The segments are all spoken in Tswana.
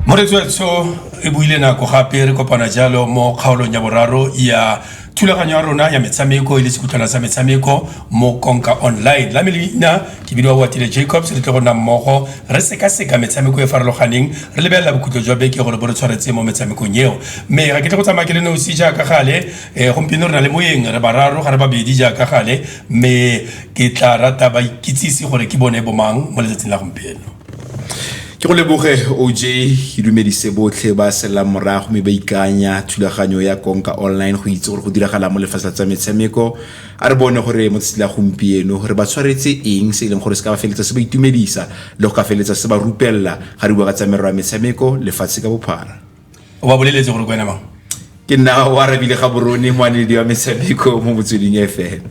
moretswetsho e buile nako gape re kopana jalo mo kgaolong ya boraro ya thulaganyo ya rona ya metshameko e le sekutlwana sa metshameko mo konka online la melina ke bidiwa watile jacobs re tle go nna mmogo re sekaseka metshameko e farologaneng re lebelela bokhutlo jwa beke gore bo re tshwaretse mo metshamekong eo mme ga ke tle go tsamaya ke le nosi jaaka gale um gompieno re na le moeng re bararo ga re babedi jaaka gale mme Ke tlaa rata ba ikitsise gore ke bone bomang mo letsatsing la gompieno. Ke go leboge OJ, ke dumedise botlhe ba selelang morago mme ba ikanya thulaganyo ya Konka Online go itse gore go diragala mo lefatshe la tsa metshameko. A re bone gore mo tsatsi la gompieno re ba tshwaretse eng se e leng gore se ka ba feletsa se ba itumedisa le go ka feletsa se ba rupelela ga re bua ka tsa merero ya metshameko lefatshe ka bophara. o ba boleletse gore kwena mang ke nna o arabile ga borone moanedi wa metshameko mo motsweding fm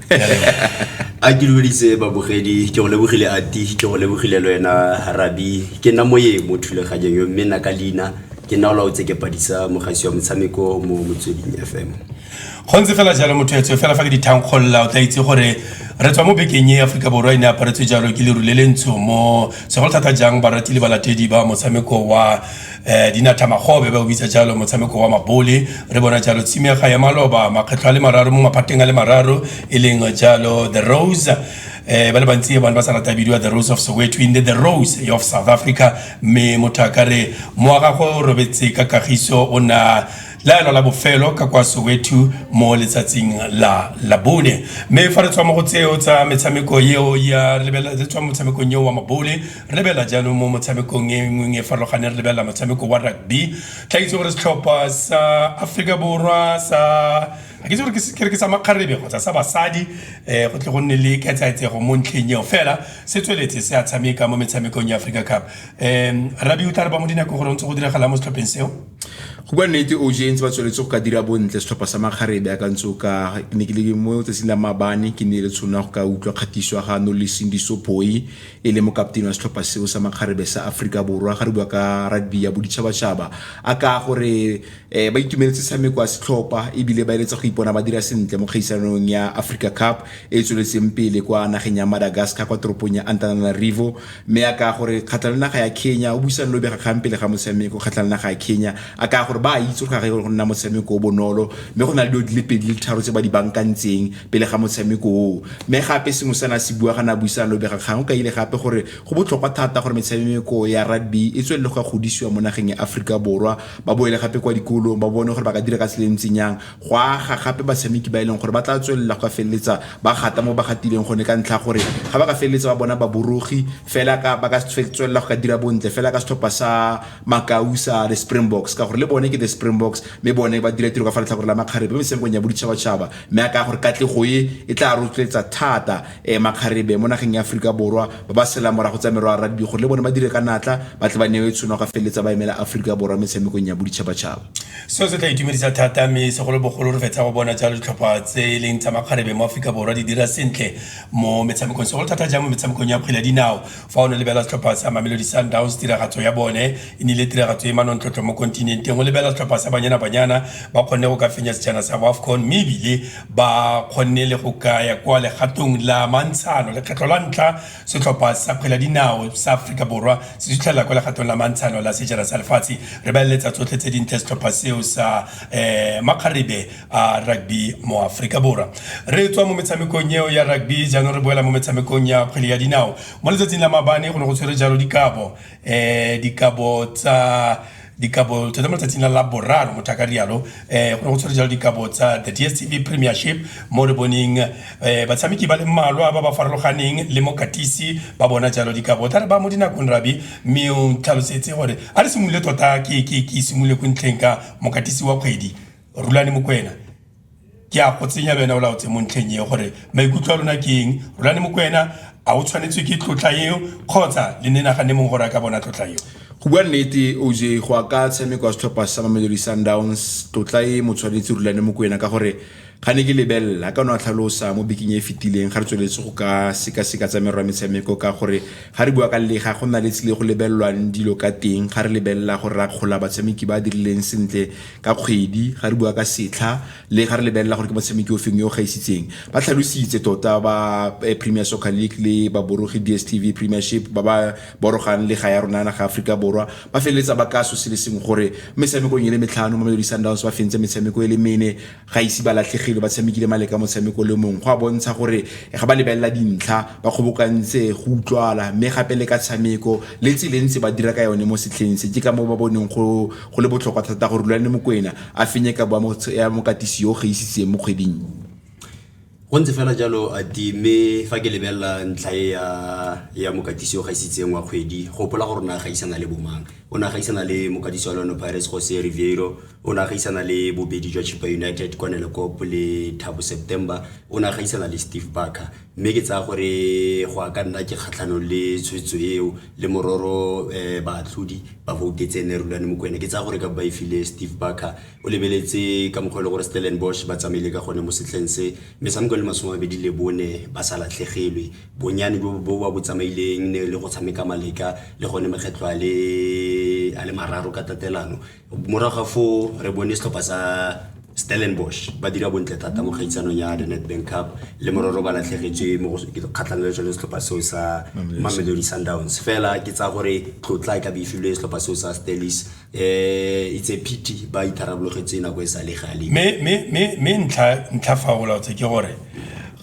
a ke lebeditse babogedi ke go lebogile ati ke go lebogile le wena rabi ke nna moye mo thulaganyeng yo mme nna ka leina ke nna o laotse ke padisa mogasi wa motshameko mo motsweding fm go ntse fela jalo motho etswe fela fa ke dithankgolola o tla itse gore re tswa mo bekeng e aforika borwa e ne aparetswe jalo ke leru le le ntsho mo segolo thata jang barati le balatedi ba motshameko wa um dinathamagobe ba o bitsa jalo motshameko wa mabole re bona jalo tshimega ya maloba makgetlho a le mararo mo maphateng a le mararo e leng jalo the rose um ba le bantsi e bone ba sa rata bidiwa the rose of soweto in the, the rose of south africa mme motho a ka re moagago o robetse ka kagiso o na laelo la bofelo ka kwa Soweto mo letsatsing la Labone. Mme fa re tswa mo go tseo tsa metshameko eo ya re lebela re tswa motshamekong eo wa mabole re lebela jaanong mo motshamekong e nngwe e farologaneng re lebela motshameko wa rugby tla itse gore setlhopha sa Aforika Borwa sa ke itse gore ke re ke sa makgarebe kgotsa sa basadi um go tle go nne le ketsaetsego mo ntlheng eo fela se tsweletse se a tshameka mo metshamekong ya Africa Cup um rabi o tla re ba mo dinako gore o ntse go diragala mo setlhopheng seo go bua nnete o jentse ba tsweletse go ka dira bontle setlhopha sa makgarebe a kantse o ka ke ne ke le mo tsatsing la mabane ke ne le tshono ya go ka utlwa kgatiso ya ga noleseng disopoi e le mokaptene wa setlhopha seo sa makgarebe sa aforika borwa ga re bua ka rugby ya boditšhabatšhaba a ka gore um ba itumeletse tshameko ya setlhopha ebile ba eletsa go ipona ba dira sentle mo kgaisanong ya africa cup e e tsweletseng pele kwa nageng ya madagascar kwa toropong ya antananarivo Mme a kaya gore kgatlha le naga ya Kenya o buisane le bobegakgang pele ga motshameko kgatlha le naga ya Kenya. A kaya gore ba a itse gore ga go nna motshameko o bonolo mme go na le dilo di le pedi le tharo tse ba di bankantseng pele ga motshameko oo. Mme gape sengwe se na se bua ga na buisana le bobegakgang o kaile gape gore go botlhokwa thata gore metshameko ya rugby e tswelele go ka godisiwa mo nageng ya Aforika Borwa, ba boele gape kwa dikolong ba bone gore ba ka dira ka tsela e ntseng yang go aga gape batshameki ba e leng gore ba tla tswelela go feleletsa ba gata mo ba gatileng gone ka ntlha gore ga ba ka feleletsa ba bona baborogi fela ka ba ka tswelela go ka dira bontle fela ka setlhopha sa makau sa the springboks ka gore le bone ke the springboks mme bone ba dira tiro ka fa letlhakore la makgarebe mo metshamekong ya boditšhabatšhaba mme a ka gore katlego e e tla rotloetsa thata um makgarebe mo nageng ya aforika borwa ba ba sela morago tsa merwa rugby gore le bone ba dire ka natla ba tle ba newe tshono go feleletsa ba emela aforika borwa metshamekong ya boditšhabatšhaba Seo se tla itumedisa thata mme segolobogolo re fetsa go bona jalo ditlhopha tse e leng tsa makgarebe mo Aforika Borwa di dira sentle mo metshamekong segolo thata jang mo metshamekong ya kgwele ya dinao fa o ne lebelela setlhopha sa Mamelodi Sundowns tiragatso ya bone e nnile tiragatso e manontlhotlho mo kontinenteng o lebelela setlhopha sa Banyana Banyana ba kgonne go ka fenya sejana sa Wafcon mme ebile ba kgonne le go kaya kwa legatong la mantshano lekgetlho la ntlha Setlhopha sa kgwele ya dinao sa Aforika Borwa se sutlhelela kwa legatong la mantshano la sejana sa lefatshe. Re ba eletsa tsotlhe tse dintle setlhopha seo sa um makgarebe a rugby mo Aforika Borwa. Re tswa mo metshamekong eo ya rugby jaanong re boela mo metshamekong ya kgwele ya dinao. Mo letsatsing la mabane go ne go tshwere jalo dikabo um dikabo tsa dikabo tsone mo letsatsing la la boraro motho a ka rialo um eh, go ne go tshwere jalo dikabo tsa the dstv premiership mo re boneng um eh, batshameki ba le mmalwa ba ba farologaneng le mokatisi ba bona jalo dikabo tla re ba mo dinakong rabi mme o tlhalosetse gore a re simolole tota ke simolole ko ntlheng ka mokatisi wa kgwedi rulane mokwena ke a go tsenya le wena o laotse mo ntlheng eo gore maikutlo a lona ke eng rulane mokwena a o tshwanetswe ke tlotla eo kgotsa le ne nagane mongwe gore a ka bona tlotla eo go bua nnete oj go a ka tshameko ya setlhopha sa mamelodi sundowns tlotla e mo tshwanetse rulane mokwena ka gore ga ne ke lebelela a ka no a tlhalosa mo biking e e fetileng ga re tsweletse go ka sekaseka tsa merwa metshameko ka gore ga re bua ka lega go nna le tsile go lebelelwang dilo ka teng ga re lebelela gore ra kgola batshameki ba dirileng sentle ka kgwedi ga re bua ka setlha le ga re lebelela gore ke motshameki o feng yo o gaisitseng ba tlhalositse tota ba eh, premier soccer league le baborogi dstv premiership ba ba borogang le ga ya rona naga aforika borwa ba feleletsa ba ka so se le sengwe gore metshamekong e le metlhano mamelodi sundowns ba fentse metshameko e le mene ga ise ba latlhegile ba tshamekile maleka motshameko le mongwe go a bontsha gore eh, ga ba lebelela dintlha ba kgobokantse go utlwala mme gape le ka tshameko le tselentse ba dira ka yone mo setlheng se ke ka moo ba boneng go Go le botlhokwa thata gore Rulani Mokwena a fenye kabo ya mo- ya mokatisi yo o gaisitseng mo kgweding. go ntse fela jalo a ti mme fa ke lebelela ntlha e ya ya mokatisi o gaisitseng wa kgwedi gopola gore o ne a gaisana le bomang o ne a gaisana le mokatisi wa lone pirates jose riviero o ne a gaisana le bobedi jwa chipa united kwanele cop le thabo september o ne a gaisana le steve barker mme ke tsaya gore go ya ka nna ke kgatlhanong le tshwetso eo le mororo um baatlhodi ba voutetse ne rulane mokwena ke tsaya gore ka ba e file steve barker o lebeletse ka mokgwa e le gore stellenbosch ba tsamaile ka gone mo setlheng se metshameko le masome mabedi le bone ba sa latlhegelwe bonnyane bo bo ba bo tsamaileng ne le go tshameka maleka le gone makgetlho a le mararo ka tatelano morago ga foo re bone setlhopha sa stellenbosch ba dira bontle thata mo kgaitsanong ya the netbank cup le mororo ba latlhegetswe mo kgatlhanong le tsone setlhopha seo sa mamelodi sundowns fela ke tsa gore tlotla e ka beifilwe setlhopha seo sa stellis um eh, itse phiti ba itharabologetsa nako e sa le gale mme ntlha fa o laotse ke gore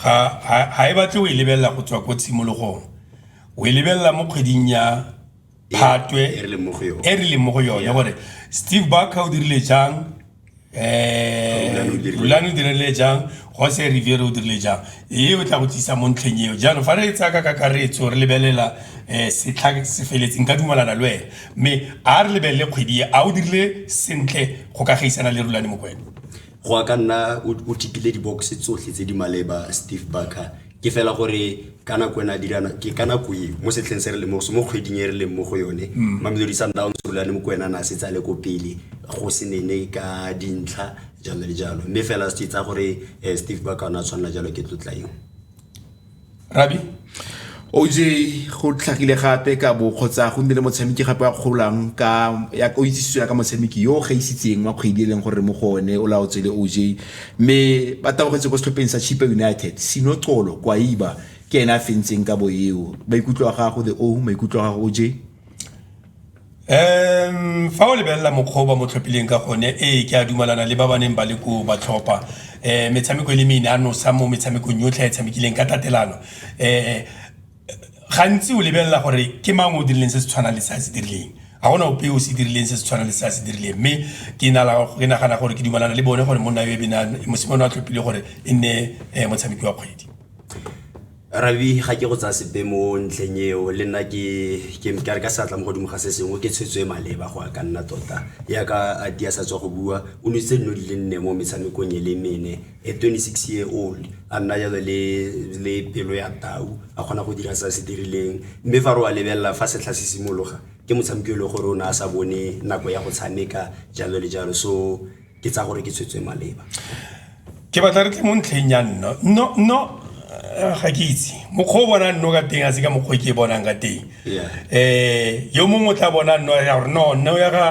ga e batle o e lebelela go tswa ko tshimologong o e lebelela mo kgweding ya phatwe e re leng mo go yone e re leng mo go yone gore steve barker o dirile jang um rulane o dirile jang jose riviere o dirile jang ee o tla go tlisa mo ntlheng eo jaanong fa re tsaya ka kakaretso re lebelela um setlha se feletseng ka dumalana le wena mme a re lebelele kgwedi e a o dirile sentle go ka gaisana le rulane mokwena go a ka nna o tikile di-box tsotlhe tse di maleba steve barker ke fela gore ka nako ena dirana ke ka nako e mo setlheng se re le mo mo kgweding e re leng mo go yone mm. mamelodi sundowns rulane mo kwena na se tsale ko pele go se nene ka dintlha jalo le jalo mme fela se tsa gore eh, steve baka ona tshwanela jalo ke tlotla eo rabi oj go tlhagile gape ka bo kgotsa go nnile motshameki gape wa kgolang ka ya o itsisiso ya ka motshameki yo ga isitseng wa kgwedi e leng gore mo go one o laotswe le oj mme ba tabogetse ko setlhopheng sa chipa united sino colo kwaiba ke ene a fentseng ka bo eo maikutlo a gago the o maikutlo a gago oj um fa o lebelela mokgwa o ba mo tlhophileng ka gone ee ke a dumalana le ba ba neng ba le koo ba tlhopha um metshameko e le mene a nosa mo metshamekong yotlhe a e tshamekileng ka tatelano um gantsi o lebelela gore ke mang o dirileng se se tshwanang le se a se dirileng ga gona ope o se dirileng se se tshwanang le se a se dirileng mme ke nagana gore ke dumalana le bone gore monna yo e benang mosimane wa tlhophile gore e nne um motshameki wa kgwedi Rabi ga ke go tsaya sepe mo ntlheng eo le nna ke ke ka re ka seatla mo godimo ga se sengwe ke tshwetso e maleba go ya ka nna tota ya ka a tia sa tswa go bua o nositse dino di le nne mo metshamekong e le mene a 26 year old a nna jalo le le pelo ya tau a kgona go dira se a se dirileng mme fa re wa lebelela fa setlha se simologa ke motshameki e le gore o ne a sa bone nako ya go tshameka jalo le jalo so ke tsa gore ke tshwetswe maleba ke batla re tle mo ntlheng ya nno no no eh, ga ke itse mokgwa o bona nno ka teng a se ka mokgwa ke e bonang ka teng um yo mongwe o tla bona nno ya gore no nno ya ga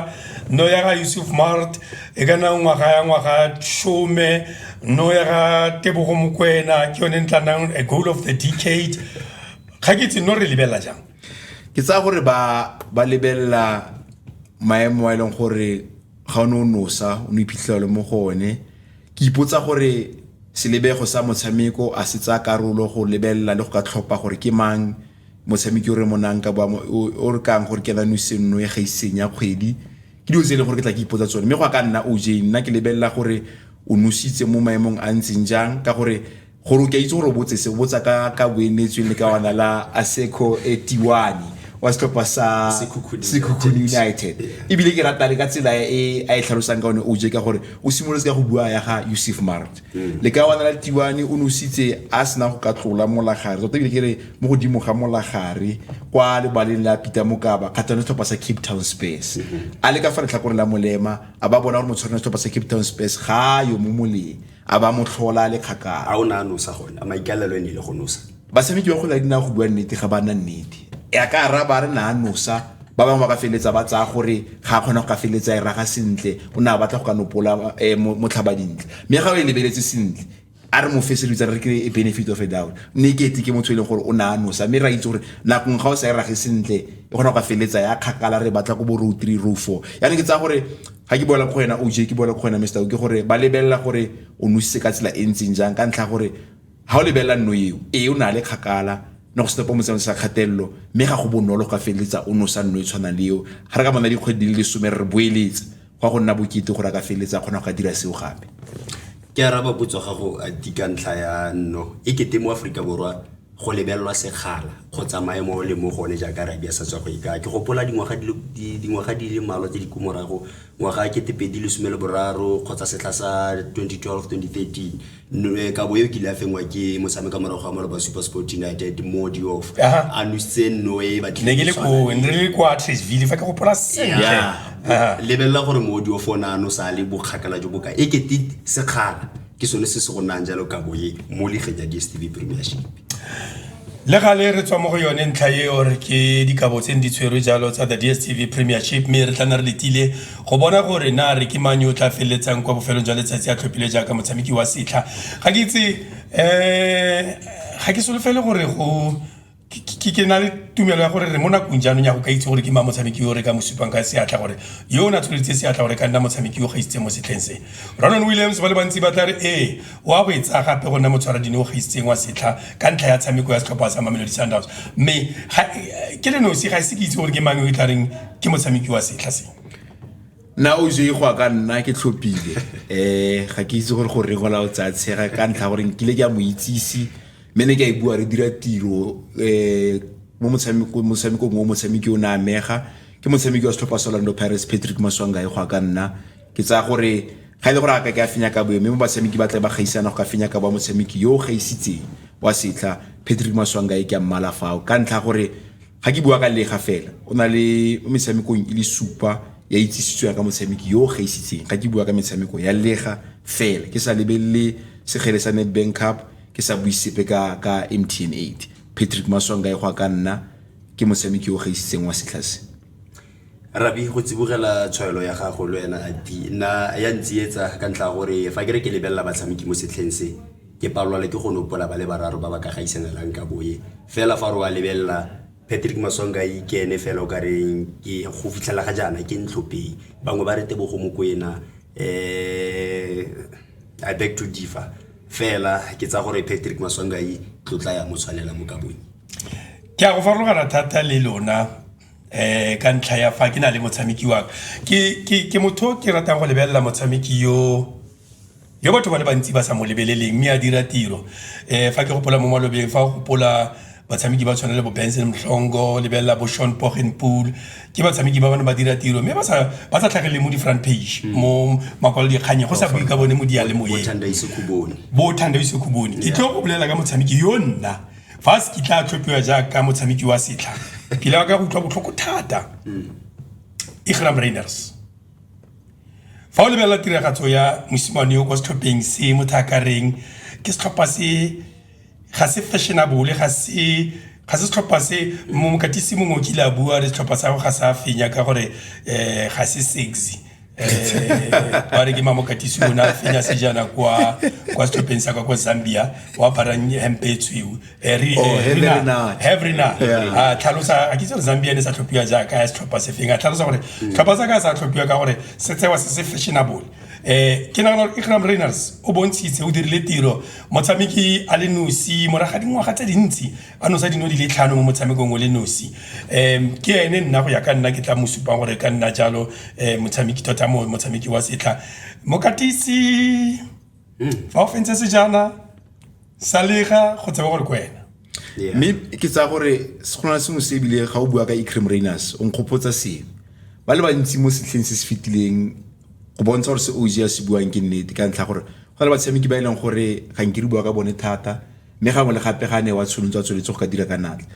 no ya ga yusuf mart e ka nna ngwaga ya ngwaga shome no ya ga tebogo mokwena ke yone ntla nang a goal of the decade ga ke itse no re lebelela jang ke tsaya gore ba ba lebelela maemo a e leng gore ga o ne o nosa o ne iphitlhela mo go one ke ipotsa gore selebego sa motshameko a se tsaya karolo go lebelela le go ka tlhopha gore ke mang motshameki o re monang ka boamo o re kang gore ke nanu senno e ga isenya kgwedi ke dilo tse e leng gore ke tla ke ipotsa tsone mme go ka nna oj nna ke lebelela gore o nositse mo maemong a ntseng jang ka gore Gore o ke a itse gore o botse se, o botsa ka ka boemetsweng le ka ona la Aseko Etiwani wa setlhopha sa Sekhukhune United. Ebile ke rata le ka tsela e a e tlhalosang ka one OJ ka gore o simolotse ka go bua ya ga Yusuf Maart. Le ka ona la Tiwani o ne o sitse a sena go ka tlola molagare, tota ebile ke re mo godimo ga molagare kwa lebaleng la Peter Mokaba kgatlhanong le setlhopha sa Cape Town Spurs. A le ka fa letlhakoreng la Molema a ba bona gore motshwarani wa setlhopha sa Cape Town Spurs ga a yo mo moleng. a ba mo tlhola le kgakala a o ne a nosa gone a maikalelo e ne ile go nosa batshameki ba kgwele ya dinao go bua nnete ga ba na nnete e a ka araba a re na a nosa ba bangwe ba ka feleletsa ba tsaya gore ga a kgona go ka feleletsa e raga sentle o ne a batla go ka nopola um motlhaba dintle mme ga o e lebeletse sentle a re mo fese re re ke e benefit of a doubt mme ke etse ke motho e leng gore o ne a nosa mme ra itse gore nakong ga o sa e rage sentle e kgona go ka feleletsa ya kgakala re batla ko bo row three row four yaanong ke tsaya gore ga ke boela go wena oj ke boela go wena mr ke gore ba lebelela gore o nositse ka tsela e ntseng jang ka ntlha gore ga o lebelela nno eo ee o na le kgakala ne go setepo motseno sa kgatelelo mme ga go bonolo go ka feleletsa o nosa nno e tshwanang le eo ga re ka bona dikgwedi di le lesome re boeletse go ya go nna bokete gore a ka feleletsa kgona go ka dira seo gape ke araba potso gago a di ka ntlha ya nno e kete mo aforika borwa go lebelelwa sekgala kgotsa maemo o le mo gone jaaka rabia sa tswa go ikaya ke gopola dingwaga di le mmalwa tse di ko morago ngwaga ke tepedi lesome le boraro kgotsa setlha sa 2012-2013 eh, kabo eo kile a fengwa ke motshameka morago ga maloba super sport united mo diof a nositse nno e batlelebelela gore mo diof o ne a nosa le bokgakala jo boka e kete sekgala ke sone se se go nayang jalo kabo e mo ligeng ya dstv premiership le gale re tswa mo go yone ntlha e ore ke dikabo tse di tshwerwe jalo tsa the dstv premiership mme re tla na re letile go bona gore na re ke mang yo o tla feleletsang kwa bofelong jwa letsatsi a tlhophile jaaka motshameki wa setlha ga ke itse um ga ke solofele gore go ke na le tumelo ya gore re mo nakong jaanong ya go ka itse gore ke ma motshameki yo re ka mo supang ka seatla gore yo o ne a tsholetse seatla gore ka nna motshameki yo gaisitse mo setlheng se ronon williams ba le bantsi ba tla re ee o a go e tsaya gape go nna motshwaradine o gaisitseng wa setlha ka ntlha ya tshameko ya setlhopha sa mamelodi sundowns mme ke le nosi ga ise ke itse gore ke mang yo e tla reng ke motshameki wa setlha se nna o je go ka nna ke tlhophile um ga ke itse gore gore go la o tsaya tshega ka ntlha gore nkile ke a mo itsise mme ne ke a e bua re dira tiro um mo motshamekong o motshameki o ne a mega ke motshameki wa setlhopha sa orlando pirates patrick maswangae go a ka nna ke tsaya gore ga e le gore a ka ke a fenya ka boyo mme mo batshameki ba tla ba gaisana go ka fenya ka ba motshameki yo o gaisitseng wa setlha patrick maswangae ke a mmala fao ka ntlha gore ga ke bua ka lega fela o na le mo metshamekong e le supa ya itsisitsweng ka motshameki yo o gaisitseng ga ke bua ka metshameko ya lega fela ke sa lebelele segele sa netbank cup ke sa bue sepe ka ka mtn 8 patrick maswanga e go a ka nna ke motshameki yo o gaisitseng wa setlhase Rabi, go tsibogela tshwaelo ya gago le wena Adi, nna ya ntsietsa ka ntlha ya gore fa ke re ke lebelela batshameki mo setlheng se, ke palelwa le ke go nopola ba le bararo ba ba ka gaisanalang ka boye. Fela fa re wa lebelela, Patrick Maswangayi ke ene fela o ka reng ke go fitlhela ga jaana ke ntlhopei. Bangwe ba re Tebogo Mokoena, um I beg to differ. Fela ke tsaya gore Patrick Maswangayi tlotla ya mo tshwanela mo ka boye. Ke a go farologana thata le lona. eh ka ntlha ya fa ke na le motshameki wa ke ke ke motho ke ratang go lebelela motshameki yo yo batho ba le bantsi ba sa mo lebeleleng mme a dira tiro eh fa ke gopola mo malobeng fa go gopola batshameki ba tshwana le bo Benson Mhlongo lebelela bo Sean Pogenpool ke batshameki ba bana ba dira tiro mme ba sa ba sa tlhagelele mo di front page mm. mo makwalo dikganye go sa bue ka bone mo dialemoyeng bo thanda isekhubone ke tlo go bolela ka motshameki yo nna Fa se kitla a tlhophiwa jaaka motshameki wa setlha, ke ile ka utlwa botlhoko thata. Igram Rayners. Fa o lebelela tiragatso ya mosimane yo kwa setlhopheng se motho a ka reng ke setlhopha se ga se fashionable ga se ga se setlhopha se mongwe katisi mongwe o kile a bua re setlhopha sa go ga sa fenya ka gore ga se sexy. ba re ke mamokatisi o ne a fenya sejana kwa kwa setlhopheng sa kwa kwa zambia o aparang hempe e tshweu Eh, re- Oh, eh, Henry Renard. Renard. Have Renard. Yeah. a tlhalosa a ke tsere zambia ne sa tlhophiwa jaaka ya setlhopha se feng a tlhalosa gore tlhopha sa ka sa tlhophiwa ka gore se tsewa se se fashionable eh ke nagana gore ikram rainers o bontshitse o dirile tiro motshameki a le nosi moraga dingwaga tse dintsi a nosa dino di le tlhano mo motshamekong o le nosi um ke ene nna go ya ka nna ke tla mo supang gore ka nna jalo um motshameki tota motshameki wa setlha mokatisi hmm. fa o fentse sejana sa lega go tseba gore ke wena mme ke tsaya gore go na sengwe se ebile ga o bua ka ecrim rainers o nkgopotsa sengwe ba le bantsi mo setlheng se se fetileng go bontsha gore se og a se buang ke nnete ka ntlha gore go na le batshameki ba e leng gore ga nke re bua ka bone thata mme gangwe le gape ga a ne wa tsholontse a tsweletse go ka dira ka natla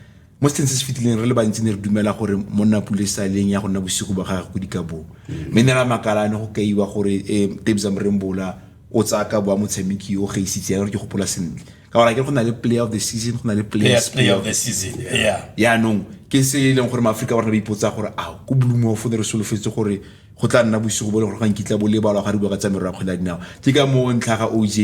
mo seteng se se fetileng re le bantsi ne re dumela gore monna pule saleng ya go nna bosigo ba gage go dikabong mme ne ra makalane go kaiwa gore um eh, tebza morembola o tsaya ka boa motshameki o gaisitse ya gore ke gopola sentle ka gore ke go na le player of the season go na le players player of the season yeah yaanong ke se e leng gore maaforika borna ba ipotsa gore a ko bloomofo ne re solofetse gore go tla nna bosigo bo le gore ga nkitla bo lebalwa ga re bua ka tsamero ya kgwele ya dinao ke ka moo ntlha ga oj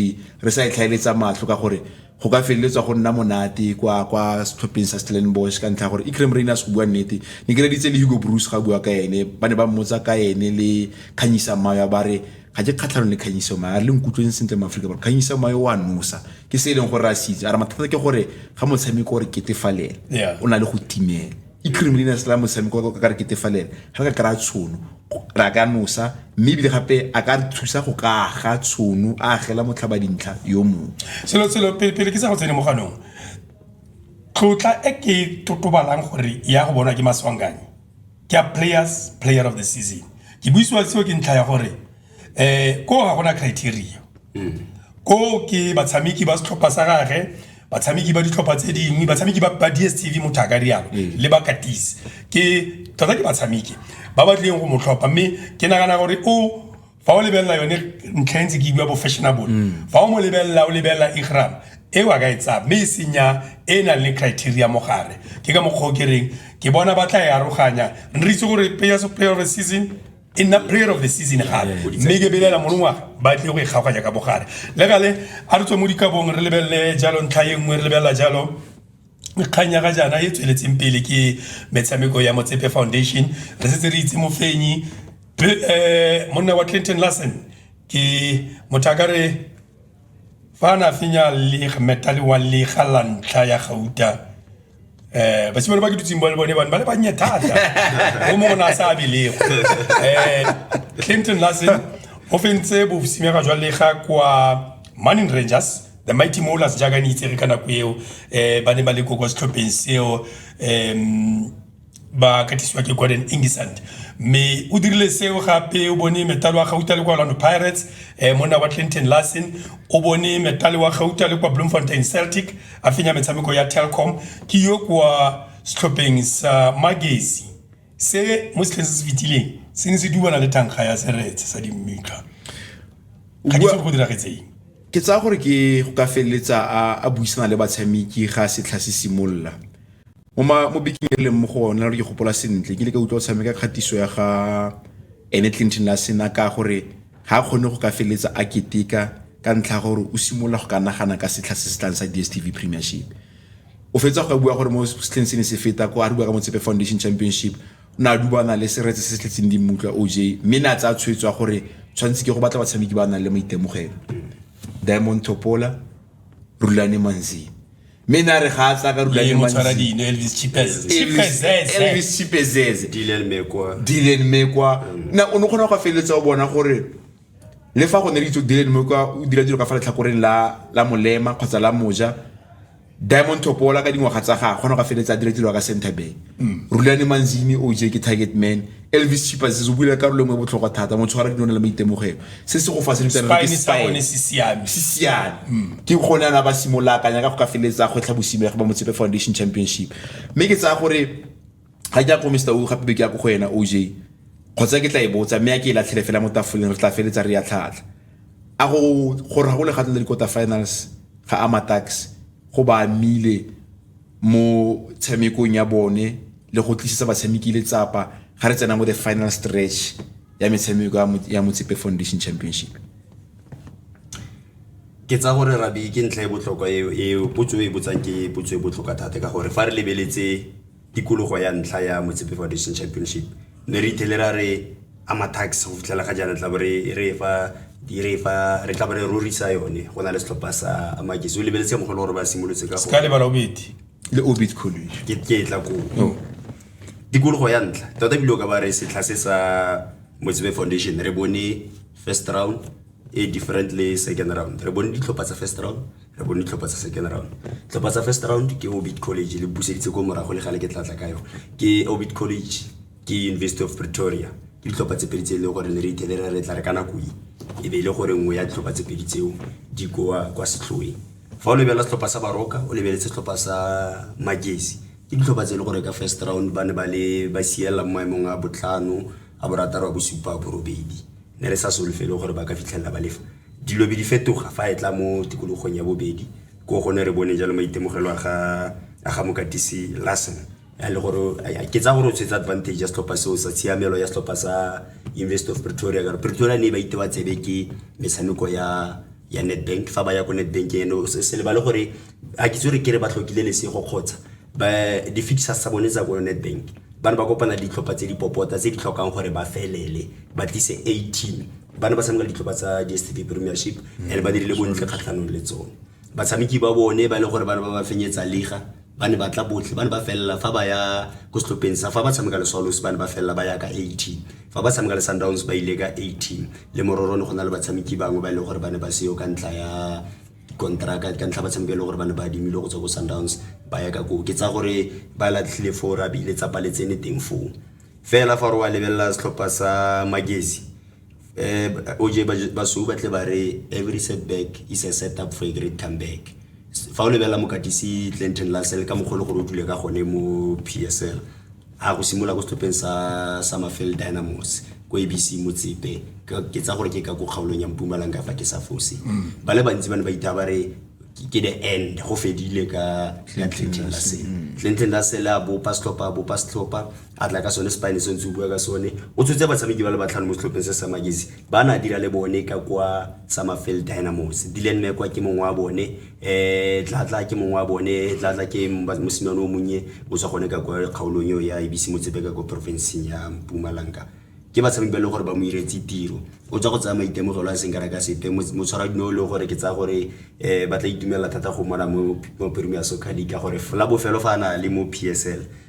re sa e tlhaeletsa matlho ka gore go ka feleletswa go nna monate kwa kwa setlhopheng sa stellenbosch ka ntlha ya gore ecrem rainers go bua nnete ne ke reditse le hugo bruce ga bua ka ene ba ne ba mmotsa ka ene le kganyisa mayo ba re ga ke kgatlhanong le kganyiso mayo a re le nkutlweng sentle mo aforika borwa kganyiso mayo wa nosa ke se e leng gore a se itse a re mathata ke gore ga motshameko o re ketefalela o na le go timela i-creamliness la motshameko ka ka re ketefalela ga re ka kry-a tshono re a ka nosa mme ebile gape a ka re thusa go ka aga tshono a agela motlhaba dintlha yo mongwe selo selo pele pele ke sa go tsene mo ganong tlotla e ke e totobalang gore ya go bonwa ke maswanganye ke ya players player of the season ke buisiwa seo ke ntlha ya gore um koo ga gona criteria mm. koo ke batshameki ba setlhopha sa gage batshameki ba ditlhopha tse dingwe batshameki ba ba dstv motho a ka rialo mm. le ba katise ke tota ke batshameki ba ba tlileng go motlhopha mme ke nagana gore o fa o lebelela yone ntlha e ntse ke bua bo fashionable mm. fa o mo lebelela o lebelela igram e wa ka e tsaya mme e senya e e nang le criteria mo gare ke ka mokgwa o ke reng ke bona ba tla e aroganya re itse gore pay of season e nna prayer of the season gape mme ke belela molongwa ba tlile go e kgaoganya ka bogare le gale a re tswe mo dikabong re lebelele jalo ntlha e nngwe re lebelela jalo kgang ya ga jaana e tsweletseng pele ke metshameko ya motsepe foundation re setse re itse mofenyi um monna wa clinton larson ke motho a ka re fa a ne a fenya lega metale wa lega la ntlha ya gauta um basimane ba ke dutseng ba le bone bane ba le bannye thata o mongwe na a sa abelego um clinton lassen o fentse bosimega jwa lega kwa manin rangers the mighty molas jaaka ne itsege ka nako eo um ba ne ba le ko kwa setlhopheng seo um ba katisiwa ke gordon ingisand mme o dirile seo gape o bone metalo wa gauta le kwa orlando pirates um monna wa clinton larson o bone metalo wa gauta le kwa bloemfontein celtic a fenya metshameko ya telcom ke yo kwa setlhopheng sa magesi se mo setlheng se se fetileng se ne se dubana le tankga ya seretse sa dimmitla ga ke tsebe go diragetseng ke tsaya gore ke go ka feleletsa a buisana le batshameki ga setlha se simolola Mo bekeng e re leng mo go one, ke gopola sentle, ke ile ka utlwa o tshameka kgatiso ya ga ene Clinton la sena ka gore ga a kgone go ka feleletsa a keteka ka ntlha ya gore o simolola go ka nagana ka setlha se se tlang sa DSTV Premiership. O fetsa go ka bua gore mo setlheng se ne se feta ko a re bua ka Motsepe Foundation Championship o ne a dubana le seretse se se tletseng di mmutlwa OJ mme ne a tsaya tshwetso ya gore tshwanetse ke go batla batshameki ba nang le maitemogelo Diamond Thopola, Rulani Manzini. mme ne a re ga a tla ka rula le motshwara dino elvis chipezezelvis chipezeze dilen mekwa dilen mekwa mm. na o ne kgona go feleletsa o bona gore le fa go ne le itse dilen mekwa o dira dilo ka fa letlhakoreng la la molema kgotsa la moja diamond topola ka dingwaga tsa ga kgona go feleletsa a dira dilo ka centerbank mm. rulane manzini o je ke target man Elvis Chipazis o buile karolo engwe e botlhokwa thata mo tshwara dino le maitemogelo se se go fa se ditana ke style se siame se siame mm. ke go ne ana ba simola akanya ka go ka feletsa go tlha bosime ga ba motsepe foundation championship mme ke tsaya gore ga ke ya go Mr. O gape be ke ya go go ena OJ kgotsa ke tla e botsa mme ya ke e latlhele fela mo tafoleng re tla feletsa re ya tlhatlha a go gore ga go le gatlha le quarter finals ga ama tax go ba mile mo tshamekong ya bone le go tlisetsa batshameki letsapa ga re tsena mo the final stretch ya metshameko ya motsepe foundation championship ke tsa gore rabi ke ntlha e botlhokwa eo e potso e botsang ke potso e botlhokwa thata ka gore fa re lebeletse tikologo ya ntlha ya motsepe foundation championship ne re ithele ra re ama tax go fitlhela ga jaana tla bo re e fa dire fa re tla ba re rorisa yone go na le setlhopha sa makesi o lebeletse mogolo gore ba simolotse ka ka lebala obedi le obit college ke ke tla ko oh. tikologo ya ntlha tota bile o ka ba re setlha se sa motsebe foundation re bone first round e different le second round re bone ditlhopha tsa first round re bone ditlhopha tsa second round tlhopha tsa first round ke obit college le buseditse ko morago le gale ke tlatla ka yone ke obit college ke university of pretoria ke ditlhopha tse pedi tse e leng gore ne re ithelera re tla re ka nako e e be e le gore nngwe ya ditlhopha tse pedi tseo di koa kwa setlhoeng fa o lebelela setlhopha sa baroka o lebeletse setlhopha sa magesi ke ditlhopha tse e le gore ka first round ba ne ba le ba siela mo maemong a botlhano a borataro a bosupa a borobedi ne re sa solofele gore ba ka fitlhelela ba lefa dilo be di fetoga fa e tla mo tikologong ya bobedi ko gone re bone jalo maitemogelo a ga mokatisi lassen ya le gore ke tsa gore o tshwetse advantage ya setlhopha seo sa tshiamelo ya setlhopha sa university of pretoria ka pretoria ne ba itewa tsebe ke metshameko ya ya netbank fa ba ya ko netbank ene se lebale gore a ke tsore kere ba tlhokile lesego kgotsa di-fixers tsa bone tsa ko netbank ba ne ba kopana le ditlhopha tse di popota tse di tlhokang gore ba felele ba tlise a team ba ne ba tshameka le ditlhopha tsa dstv premiership and ba dirile bontle kgatlhanong le tsone batshameki ba bone ba e leng gore ba ne ba ba fenyetsa liga ba ne ba tla botlhe ba ne ba felela fa ba ya ko setlhopheng sa fa ba tshameka le swallows ba ne ba felela ba ya ka 18 fa ba tshameka le sundowns ba ile ka 18 le mororo ne go na le batshameki bangwe ba e leng gore ba ne ba seyo ka ntla ya kontraka ka ntlha ba tshameka le gore ba ne ba adimile go tswa ko sundowns ba ya ka koo ke tsa gore ba latlhile foo ra bile tsa paletsene teng foo fela fa re wa lebelela setlhopha sa magesi Um OJ basweu ba tle ba re every set back is a set up for a great come back fa o lebelela mokatisi Clinton Lassell ka mogolo gore o dule ka gone mo PSL a go simolola ko setlhopheng sa Summerfield Dynamos ko ABC Motsepe ke tsa gore ke ka ko kgaolong ya Mpumalanga fa ke sa fose mm. ba le bantsi ba ne ba itha ba re ke the end go fedile ka Clinton Lassell mm. Clinton Lassell a bopa setlhopha a bopa setlhopha a tla ka sone spine se ntse o bua ka sone o tshotse batshameki ba le batlhano mo setlhopheng se sa magesi ba na dira le bone ka kwa summerfield dynamos dilen mekwa ke mongwe wa bone um tlatla ke mongwe wa bone tlatla ke mosimane o monnye o tswa gone ka kwa kgaolong eo ya ebise motsepe ka kwa porofenseng ya mpumalanga ke batshameki ba e leng gore ba mo iretse tiro o tswa go tsaya maitemogelo a seng ka reka sepe motshwara dino e leng gore ke tsaya gore um ba tla itumelela thata go mona mo premier soccer league ka gore la bofelo fa a na le mo p s l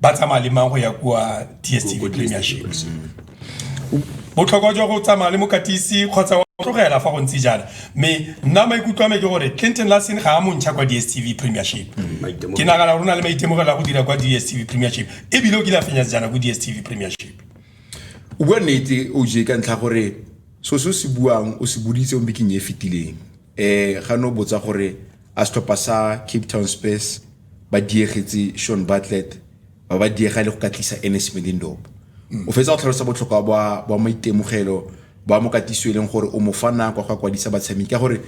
ba tsamaya le mang go ya kwa dstv premiership botlhokwa jwa go tsamaya le mokatisi kgotsa wa tlogela fa go ntse jana mme nna maikutlo a me ke gore clinton larson ga a montšha kwa dstv premiership mm, ke nagana gore o na le maitemogelo a go dira kwa dstv premiership ebile o kile a fenya sejana ko dstv premiership o bua nnete o je ka ntlha gore so se o se buang o se boditse o mbekeng e fetileng um ga ne o botsa gore a setlhopha sa cape town space ba diege tse Shaun Bartlett ba ba diega le go ka tlisa Ernest Middendorp mm. o fetsa go tlhalosa botlhokwa bwa bwa maitemogelo ba mo katiso e leng gore o mo fa nako go kwadisa batshameki ka gore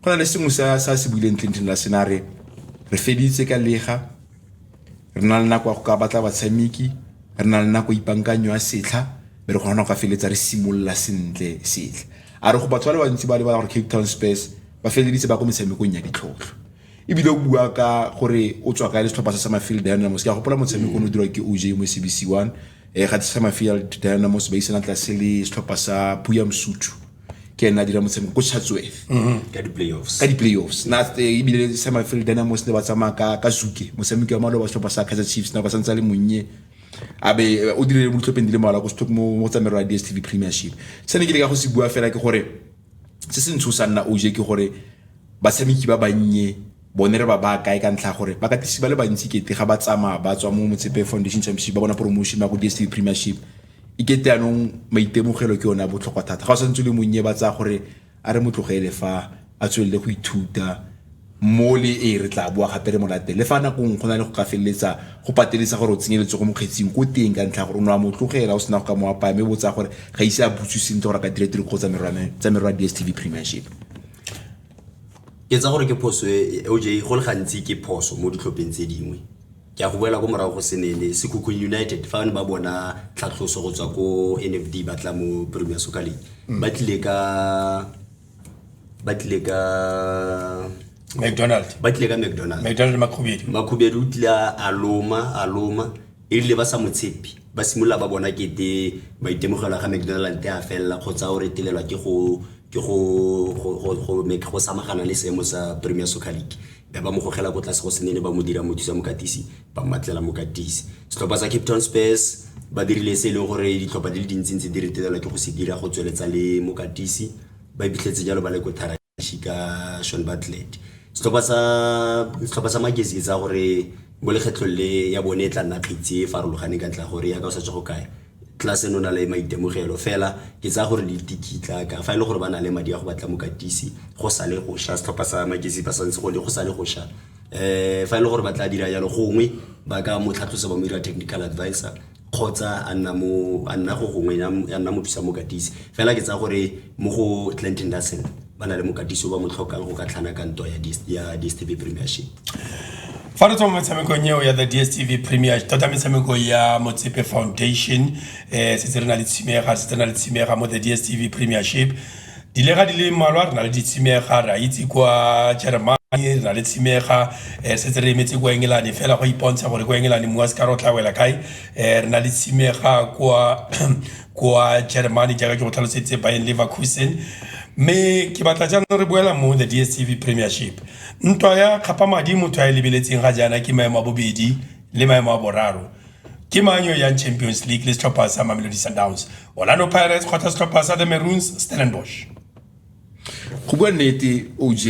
go na le sengwe sa sa se buileng Clinton la senare re feditse ka lega re na le nako ya go ka batla batshameki re na le nako ipankanyo ya setlha be re kgona go ka feletsa re simolola sentle setlha a re go batho ba le bantsi ba lebala gore Cape Town Spurs ba feleditse ba ko metshamekong ya ditlhotlho ebile o bua ka gore o tswa kae le setlhopha sa samafield dynamos ke a gopola motshameko o o dirwa ke oj mo cbc one um ga samafield dynamos ba isana tlase le setlhopha sa puya mosuthu ke ena a dira motshameko ko chatsworth mm-hmm. ka di-playoffs ka di-playoffs na eh, ebile samafield dynamos ne ba tsamaya ka ka zuke motshameko wa maloba setlhopha sa kaizer chiefs na ba santse a le monnye abe eh, o dirile mo ditlhopheng di le mmalwa mo tsamero ya dstv premiership se ne ke le ka go se bua fela ke gore se se ntshosang nna oj ke gore Batshameki ba bannye bone re ba baya kae ka ntlha ya gore bakatisi ba le bantsi kete ga ba tsamaya ba tswa mo Motsepe Foundation Championship ba bona promotion ba go DSTV Premiership e kete anong maitemogelo ke yone a botlhokwa thata ga o santse le monnye ba tsaya gore a re motlogele fa a tswelele go ithuta mo le e re tla boa gape re molate le fa nako nngwe go na le go ka feleletsa go pateletsa gore o tsenyeletse go mokgetsing ko teng ka ntlha gore o ne wa motlogela o sena go ka mo apaya mme botsa gore ga ise a butse sentle gore a ka dira tiro kgotsa merwa tsa merwa DSTV Premiership ke tsa gore ke phoso e e- oj go le gantsi ke phoso mo ditlhopheng tse dingwe ke a go boela ko morago go senene sekhukhung united fa ne ba bona tlhatlhoso go tswa ko nfd ba tla mo premier soccer league ba tlile ka ba tlile ka mcdonald ba tlile ka mcdonald mcdonald makhubedu makhubedu o tlile a- a loma a loma e rile ba sa mo tshepi ba simolola ba bona kete maitemogelo ga mcdonald a felela kgotsa o retelelwa ke go ke go go samagana le seemo sa premier soccer league be ba mo gogela ko tlase go senene ba mo dira mothusa mokatisi ba mmatlela mokatisi setlhopha sa cape town spurs ba dirile se e leng gore ditlhopha di le dintsintsi di retelelwa ke go se dira go tsweletsa le mokatisi ba ipitlhetse jalo ba le ko thara ka Shaun Bartlett. Setlhopha sa, setlhopha sa Magesi ke tsaya gore mo lekgetlhong le ya bone e tla nna kgitsi e farologaneng ka ntlha ya gore yaka o sa tswa go kae tlase no na le maitemogelo fela ke tsaya gore le dikitla ka fa e le gore ba na le madi a go batla mokatisi go sa le go sha setlhopha sa Magesi ba santse go le go sa le go sha um fa e le gore ba tla dira jalo gongwe ba ka mo tlhatlhosa ba mo dira technical advisor kgotsa a nna mo a nna go gongwe a nna mo thusa mokatisi fela ke tsa gore mo go Clinton Larsen ba na le mokatisi o ba mo tlhokang go ka tlhana ka ntwa ya ya DSTV Premiership fa re tswa mo metshamekong eo ya the dstv premier tota metshameko ya motsepe foundation um setse re na le tshimega setse re na le tshimega mo the dstv premiership Dilega di le mmalwa re na le ditshimega re a itse kwa Jeremane re na le tshimega um setse re emetse kwa engelane fela go ipontsha gore kwa engelane mmu wa se ka re o tla wela kae um re na le tshimega kwa kwa Jeremane jaaka ke go tlhaloseditse Bayern Leverkusen mme ke batla jaanong re boela mo the DSTV Premiership ntwa ya kgapa madi motho a e lebeletseng ga jaana ke maemo a bobedi le maemo a boraro ke mang yo yang champions league le setlhopha sa mamelodi sundowns orlando pirates kgotsa setlhopha sa the maroons stellenbosch go bua nnete oj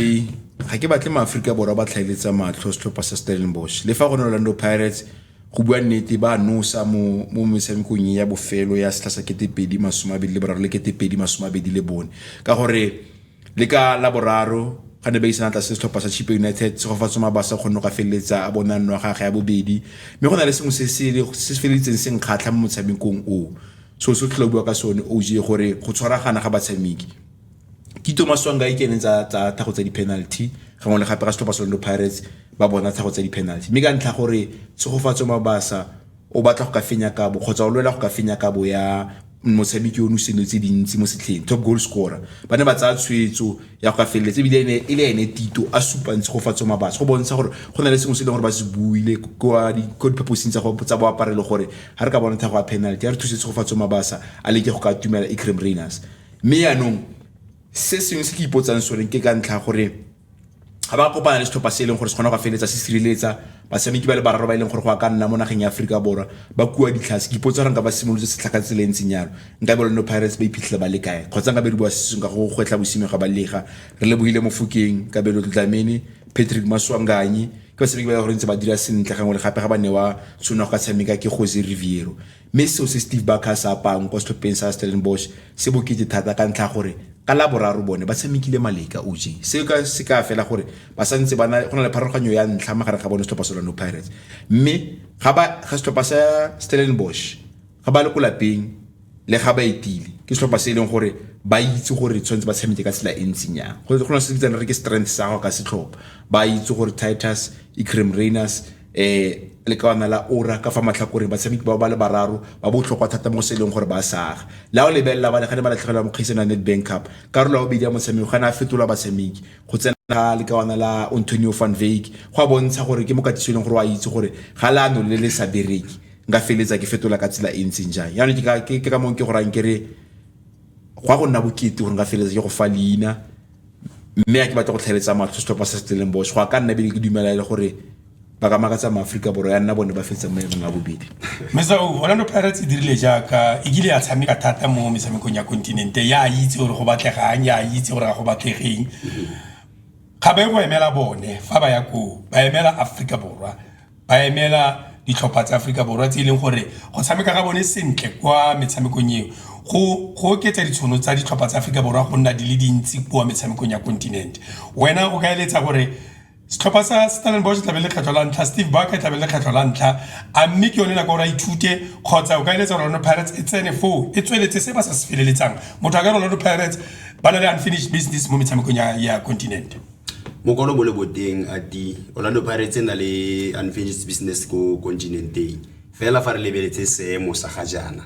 ga ke batle maaforika borwa ba tlhaeletsa matlho setlhopha sa stellenbosch le fa go ne orlando pirates go bua nnete ba nosa mo mo metshamekong ya bofelo ya setlha sa ketepedi masome abedi le boraro le ketepedi masome abedi le bone ka gore Le ka Laboraro, ga ne ba isana tlase setlhopha sa Chippa United, Tshegofatso Mabasa o kgonne go ka feleletsa a bona nno ya gagwe ya bobedi. Mme go na le sengwe se se feleditseng se nkgatlha mo motshamekong o. So se o tlhola o bua ka sone OJ gore go tshwaragana ga batshameki. Tito Maswanganyi ke ene tsa thago tsa di-penalty gangwe le gape ga setlhopha sa Orlando Pirates ba bona thago tsa di-penalty. Mme ka ntlha gore Tshegofatso Mabasa o batla go ka fenya kabo kgotsa o lwela go ka fenya kabo ya motshameki o nosenwe tse dintsi mo setlheng top goal scorer ba ne ba tsaya tshwetso ya go ka feleletse ebile ene e le ene tito a supa ntshe go fatswa mabatsi go bontsha gore go na le sengwe se e leng gore ba se buile kwa diphaposing tsa boapare le gore ga re ka bona thago ya penalty ya re thusetse go fatswa mabasa a leke go ka atumela ecrem rainers mme yaanong se sengwe se ke ipotsang sone ke ka ntlha gore ga ba kopana le setlhopha se e leng gore se kgona go feleletsa se sireletsa batshameki ba le bararo ba e leng gore go a ka nna mo nageng ya aforika borwa ba kua ditlhase ke ipotsa gore nka ba simolotse setlha ka tsela e ntseng yalo nka be lone pirates ba iphitlhela ba le kae kgotsa nka be re bua sesong ka go gwetlha bosimeng ga ba lega re lebogile mofokeng ka be lo tlamene patrick maswanganyi ke batshameki ba e gore ntse ba dira sentle gangwe le gape ga ba newa tshone go ka tshameka ke jose riviero Mme seo se Steve Barker se apang kwa setlhopheng sa Stellenbosch se bokete thata ka ntlha gore ka la boraro bone ba tshamekile maleka OJ. Seo ka se ka fela gore ba sa ntse ba na go na le pharologanyo ya ntlha magareng ga bone setlhopha sa Orlando Pirates. Mme ga ba ga setlhopha sa Stellenbosch ga ba le ko lapeng le ga ba etile ke setlhopha se e leng gore ba itse gore tshwanetse ba tshameke ka tsela e ntseng yang go na se bitsang re ke strength sa go ka setlhopha ba itse gore titus ecrem rainers um lekawana la ora ka fa matlhakoreng batshameki bao ba le bararo ba botlhokwa thata mo se e leng gore ba saga la o lebelela bane ga ne ba latlhegelwa mo kgaisano ya netbank cup karolo ya bobedi ya motshameko ga ne a fetola batshameki go tsena ga lekawana la antonio van vake go a bontsha gore ke mokatiso e leng gore o a itse gore ga leano le le sa bereke nka feletsa ke fetola ka tsela e ntseng jang yaanong ke ka mong ke gorang kere go ya go nna bokete gore nka feletsa ke go fa leina mme a ke batla go tlhaeletsa matlho setlhopha sa stellenbosch go a ka nna bele ke dumela e le gore ba ka makatsa maaforika borwa ya nna bone ba fetsa mo emong a bobedi mesa o orlando pirates e dirile jaaka e kile ya tshameka thata mo metshamekong ya kontinente ya itse gore go batlegang ya itse gore ga go batlegeng ga ba e go emela bone fa ba ya koo ba emela aforika borwa ba emela ditlhopha tsa Aforika Borwa tse e leng gore go tshameka ga bone sentle kwa metshamekong eo go go oketsa ditshono tsa ditlhopha tsa Aforika Borwa go nna di le dintsi kwa metshamekong ya continent wena o ka eletsa gore setlhopha sa Stellenbosch tlabe le kgetlho la ntlha Steve Barker tlabe le kgetlho la ntlha a mme ke yone nako gore a ithute kgotsa o ka eletsa Orlando Pirates e tsene foo e tsweletse se ba sa se feleletsang motho a ka Orlando Pirates ba na le unfinished business mo metshamekong ya continent Mokwalo bo le boteng a di Orlando Pirates e na le unfinished business ko kontinenteng fela fa re lebeletse seemo sa ga jaana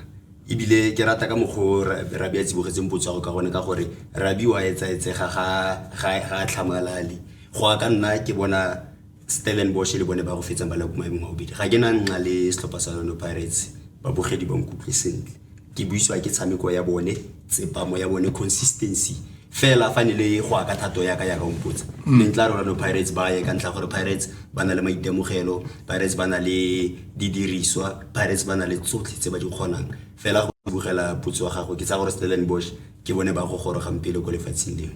ebile ke rata ka mokgwa o rabi a tsibogetseng potso ya go ka gone ka gore rabi wa etsaetsega ga ga tlhamalale go ya ka nna ke bona Stellenbosch le bone ba go fetsang ba le ko maemong a bobedi ga ke na nna le setlhopha sa Orlando Pirates babogedi ba nkutlwe sentle ke buisiwa ke tshameko ya bone tsepamo ya bone consistency fela fa ne le go aka thato yaka yaka ompotsa mm. ne ntla rona no pirates ba ye ka ntlha gore pirates ba na le maitemogelo pirates ba na le didiriswa pirates ba na le tsotlhe tse ba di kgonang fela go bogela potso ya gago ke tsa gore stellenbosch ke bone ba go gorogang pele ko lefatsheng leo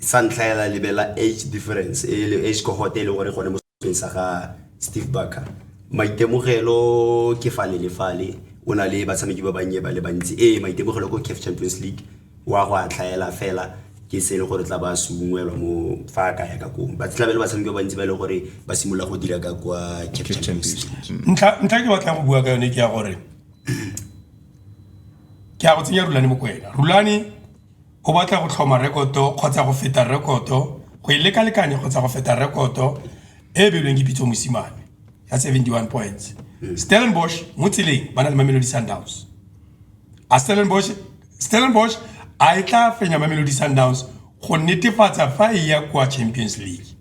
Sa ntlha hela lebelela age difference e le age cohort e leng gore gone mo setlhopheng sa ga Steve Barker. Maitemogelo ke fale le fale o na le batshameki ba bannye ba le bantsi ee maitemogelo ko CAF Champions League wa go a tlhaela fela ke se e le gore tla ba se ungwelwa mo fa a kaya ka koo ba tlabe le batshameki ba bantsi ba e leng gore ba simolola go dira ka kwa CAF Champions League ntlha ntlha ke batlang go bua ka yone ke ya gore ke ya go tsenya rulane mokwena rulane O batla go tlhoma rekoto kgotsa go feta rekoto, go e lekalekanya kgotsa go feta rekoto e e beilweng ke Pitso Mosimane ya 71 points. Stellenbosch mo tseleng ba na le Mamelodi Sundowns. A Stellenbosch Stellenbosch a e tla fenya Mamelodi Sundowns go netefatsa fa e ya kwa Champions League.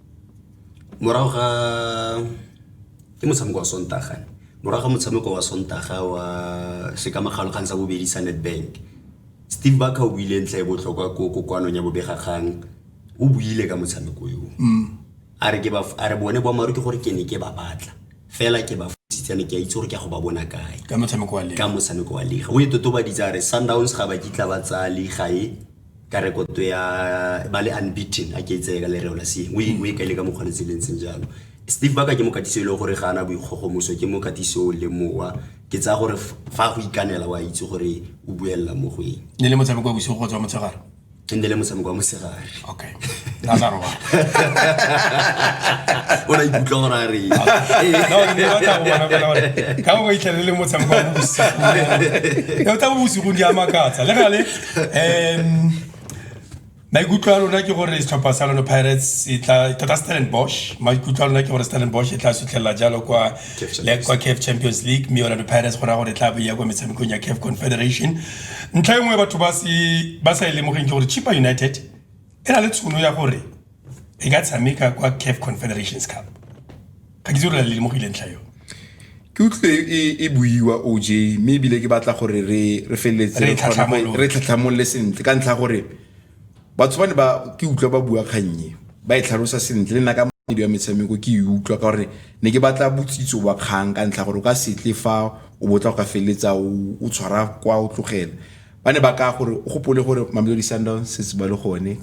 Morago ga ke motshameko wa Sontaga. Morago ga motshameko wa Sontaga wa sekamagalo kgang sa bobedi sa Nedbank. Steve Barker o buile ntlha e botlhokwa ko kokoanong ya bobegakgang o buile ka motshameko yo mm. a re bone boammaaruri ke gore ke ne ke ba batla fela ke ba fositsane ke a itse gore ke a go ba bona kae ka motshameko wa lega o e totobaditse a re sundowns ga ba kitla ba tsaya lega e ka rekoto ya ba le unbeaten a ke itseye ka lereo la seng o e mm. kaile ka mokgwa letseleng seng jalo steve baka ke mokatisi e leng gore ga ana boikgogomoso ke mokatisi o le mowa ke tsaya gore fa go ikanela wa itse gore o buelela mo go eng ne le motshameko wa bosigo go tswa motshegare e nne le motshameko wa mosegare okay a tla robala o na ikutlwa gore a reng ka go itlhele le motshameko wa bosigo o tla bo bosigong di a makatsa le gale um maikutlo a lona ke gore setlhopha sa lone pirates e tla tota stellenbosch maikutlo a lona ke gore stellenbosch e tla sutlhelela jalo kwa kwa caf champions league mme orlando pirates go raya gore e tla boya kwa metshamekong ya caf confederation ntlha e nngwe batho ba se ba sa e lemogeng ke gore chipa united e na le tshono ya gore e ka tshameka kwa caf confederations cup ga ke itse gore le mo go ile ntlha yone ke utlwe e, e buiwa oj mme ebile ke batla gore re re feleletse Re re kgona go- tlhatlhamolole. re tlhatlhamolole sentle ka ntlha ya gore batho ba ne ba ke utlwa ba bua kgannye ba e tlhalosa sentle le nna ka moedi wa metshameko ke e utlwa ka gore ne ke batla botsitso wa kgang ka ntlha ya gore o ka setle fa o botla go ka feleletsa o o tshwara kwa o tlogela ba ne ba ka gore o gopole gore mamelodi sundowns se se ba le gone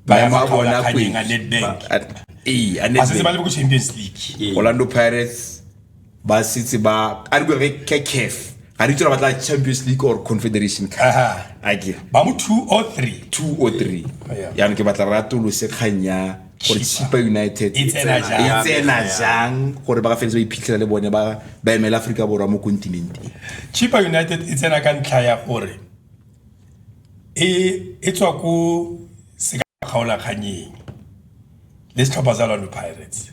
bayamabona kwenga nedbank ee a nedbank ba le go champions league orlando pirates ba sitse ba a re re ke caf ga re tsela ba tla champions league or confederation a ke ba mo 2 or 3 2 or 3 ya ke batla ra tolo se khanya gore chipa united e tsena jang gore ba ka feletse ba iphitlhela le bone ba ba emela aforika borwa mo continenteng chipa united e tsena ka ntlha ya gore e tswa ko kgaolakganyeng le setlhopha sa Orlando Pirates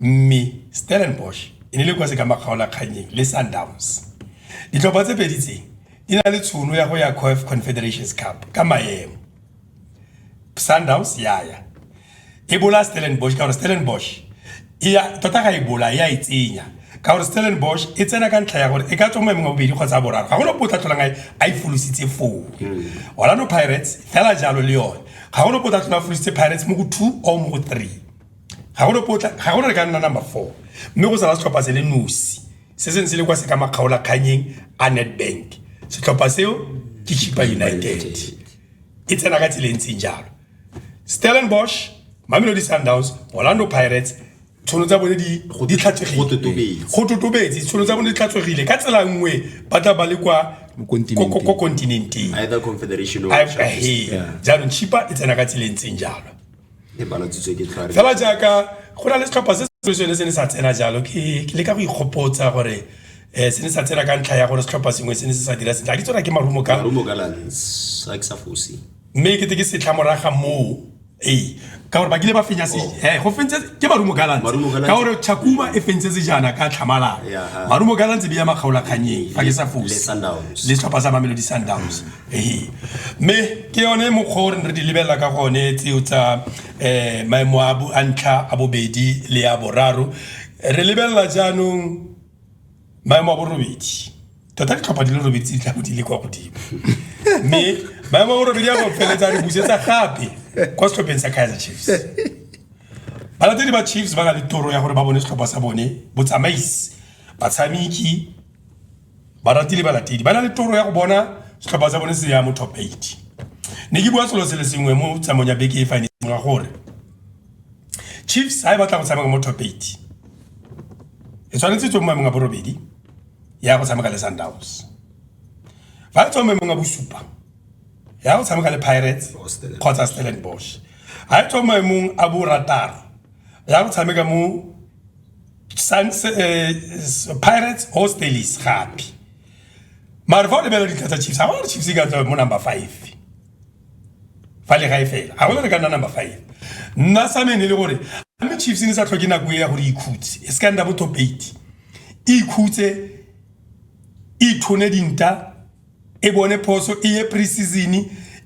mme Stellenbosch e ne le kwa se ka makgaolakganyeng le Sundowns ditlhopha tse pedi tse di na le tšhono ya go ya Confederations Cup ka maemo. sundowns ya ya e bola stellenbosch ka gore stellenbosch e ya tota ga e bola e a e tsenya ka gore stellenbosch e tsena ka ntlha ya gore e ka tswa mo emeng wa bobedi kgotsa boraro ga gone ope o tla tlholang a e folositse foo hmm. orlando pirates fela jalo le yone ga gone ope o tla tlhola folositse pirates mo go two or mo go three ga gone potla ga gone re ka nna number four mme go sala setlhopha se le nosi se seng se le kwa se ka makgaola kganyeng a nedbank setlhopha seo ke chipa united e tsena ka tsela e ntseng jalo stellenbosch mamelodi sundowns orlando pirates tshono tsa bone di go di tlhatsegile go totobetse tshono tsa bone di tlhatsegile ka tsela nngwe ba tla ba le kwa ko continenteng jaanong chipa e tsena ka tseleng tseng jalo e balatsitswe ke tlhare fela jaaka go na le setlhopha se se sone se ne sa tsena jalo ke le ka go ikgopotsa gore um se ne sa tsena ka ntlha ya gore setlhopha sengwe se ne se sa dira sentle a ke tsona ke marumo ka marumo ka lance a ke sa fosi mme ke te ke setlha moraga moo ee ka gore ba kile ba fenya se oh. eh, go fentse ke marumo galantse ka gore chakuma e fentse sejana ka tlhamalala marumo galantse bi ya makgaolakganyeng fa ke sa fose le setlhopha sa mamelodi sundowns ee mme ke yone mokgwa o re re di lebelela ka gone tseo tsa um maemo a ntlha a bobedi le ya boraro re lebelela jaanong maemo a borobedi tota ditlhopha di le robedi tse di tlago di le kwa godimo mme maemo a borobedi a go feletsa re busetsa gape kwa setlhopheng sa kaizer chiefs balatedi ba chiefs ba na le toro ya gore ba bone setlhopha sa bone botsamaisi batshameki barati le balatedi ba na le toro ya go bona setlhopha sa bone se ya mo top 8 ne ke bua selo se le sengwe mo tsamong ya beke e fane ga gore chiefs ha e batla go tshameka mo top 8 e tshwanetse tswe mo maemong a borobedi ya go tshameka le sundowns fa e tswa mo maemong a bosupa ya go tshameka le pirates kgotsa stellenbosch ha e tswa mo maemong a borataro ya go tshameka mo Sans, eh, s- pirates ho stalis gape mare fa o lebelela ditlha tsa chiefs ga ba gore chiefs e ka tswa mo number five fa le gae fela ga gona re ka nna number five nna sa mene e le gore a mme chiefs e ne sa tlhoke nako e ya gore e ikhutse e se ka nna bo top eight e ikhutse e ithone dinta e bone phoso e ye pre-season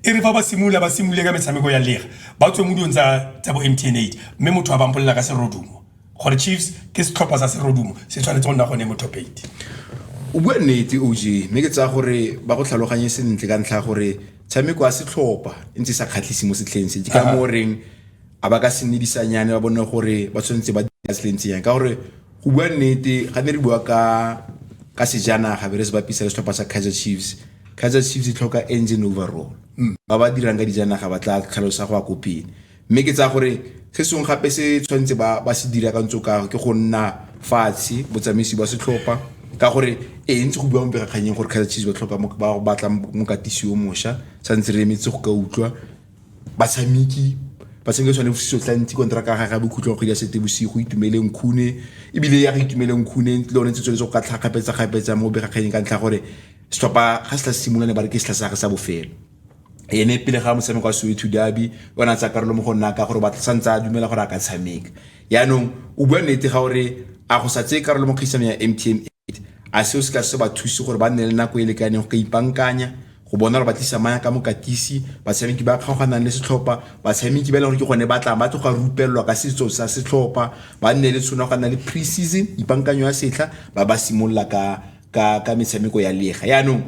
e re fa ba simolola ba simolole ka metshameko ya lega ba tswe mo dilong tsa bo mtn eight mme motho a bampolela ka serodumo gore chiefs ke setlhopha sa serodumo se tshwanetse go nna gone mo top eight o bua nnete og mme ke tsaya gore ba go tlhaloganye sentle ka ntlha gore tshameko ya setlhopha e ntse sa kgatlhise mo setlheng se ke ka mo reng a ba ka se nedisanyane ba bone gore ba tshwanetse ba dira se le ntseng yang ka gore go bua nnete ga ne re bua ka ka sejanaga be re se bapisa le setlhopha sa kaizer chiefs kaizer chiefs e tlhoka engine overall hmm. ba ba dirang ka dijanaga ba tla tlhalosa go ya ko pele mme ke tsaya gore se sengwe gape se tshwanetse ba ba se dira ka ntse ka ke go nna fatshe botsamaisi ba setlhopha ka gore e ntse go bua mo pegakganyeng gore kaizer chiefs ba tlhoka ba batla mokatisi yo mosha tshwanetse re emetse go ka utlwa batshameki ba tshameka tshwane bosiso tlantsi kontraka ya gage ya bokhutlo wa kgwedi ya sete bosigo itumeleng khune ebile ya re itumeleng khune le one tse tshwanetse go ka tlha kgapetsa-kgapetsa mo begakganyeng ka ntlha gore setlhopha ga se tla simolola ne ba re ke setlha sa gage sa bofelo ene pele ga motshameko wa soweto derby o ne a tsaya karolo mo go nna ka gore ba santse a dumela gore a ka tshameka yaanong o bua nnete ga gore a go sa tseye karolo mo kgaisanong ya mtma a seo se ka se ba thuse gore ba nne le nako e lekaneng go ka ipankanya go bona gore ba tlisa maya ka mokatisi batshameki ba kgaoganang le setlhopha batshameki ba e leng gore ke gone ba tla ba tloga rupelelwa ka setso sa setlhopha ba nne le tshwana go nna le pre-season ipankanyo ya setlha ba ba simolola ka ka ka metshameko ya lega yaanong